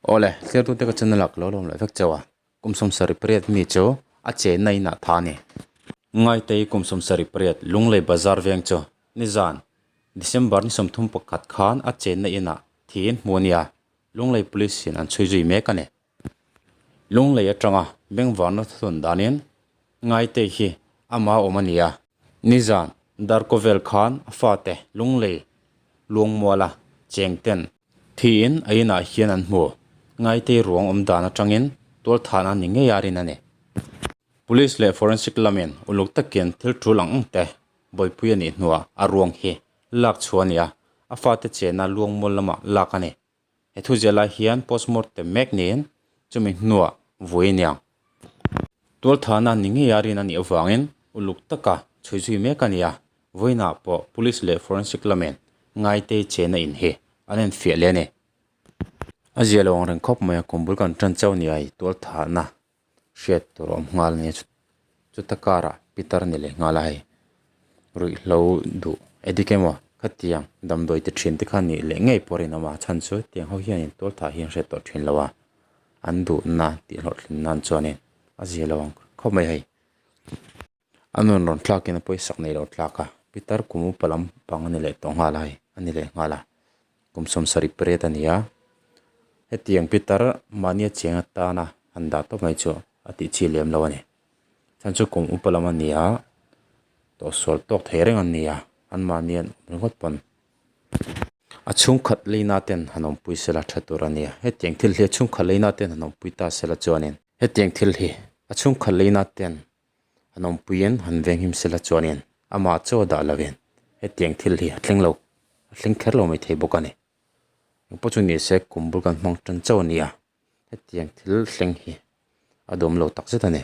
Aw le, thlertute ka chhunna lak lo lawm loh vek chauh a, kum sawmsarih pariat mi chu a che na inah tha a ni. Ngaitei kum sawmsarih pariat Lunglei Bazar veng chu nizan December ni sawmthum pakhat khan a che na inah thi in hmu a nia Lunglei Police in an chhui zui mek a ni. Lunglei atanga bengvarna thuthlun danin Ngaitei hi ama awm a ni a, nizan darko vel khan a fate Lunglei Luangmuala chengten, Thiin a inah hian an hmu. Ngaitei ruang awm dan atangin tualthana ni ngei a rin a ni. Police leh forensic lamin uluk takin thil ṭul ang ang te Bawipuia nih hnuah a ruang hi lak chhuah a ni a, a fate chena Luangmul lamah lak a ni. He thu ziah lai hian postmortem mek niin chumi hnuah vui a niang. Tualthana ni ngei a rin a nih avangin uluk taka chhui zui mek a nia. Vawiinah pawh Police leh Forensic lamin ngaitei chena in hi an en fiah leh a ni. A zia lo ang reng khawp mai a, kum bul kan tan chauh nia i tualthana hriat tur a awm nghal a nia. Chuta karah Peter ni leh nghal a hei. Ruihhlo duh edik emaw khatiang damdawite thin te kha nih leh ngei pawh a rinawm a, a chhan chu tiang ho hianin tualthah hi an hriat tawh thin lo a, an duhna tih hlawhthlin nan chuanin a zia lo ang khawp mai hei. A nun rawn thlakin a pawi sak neilo tlak a, Pitar kum upa lampang a ni leh tawh nghal a hei, a ni leh nghal a, kum sawm sarih pariat a nia, hetiang Pitar mahni a chiang atana han dah tawp mai chu a tihchhi lem lo a ni. Chuan chu kum upa lam a nia tawh sual tawk thei reng an nia, an mahni an awm ringawt pawn. A chhungkhat leina ten han awmpui sela tha tur a nia. Hetiang thil hi a chhungkhat leina ten han awmpui ta sela chuanin. Hetiang thil hi a chhungkhat leina ten han awmpuiin han veng him sela chuanin amah chaw dah lovin hetiang thil hi a thleng lo, a thleng kher lo mai thei bawk a ni. Engpawh chu nise kum bul kan hmang tan chauh a nia. Hetiang thil thleng hi a dawm lo tak zet a ni.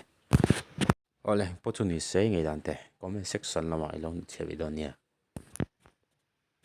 Aw le, pawh chu ni se ngei dan teh, comment section lamah i lo hnathliah ve dawn nia.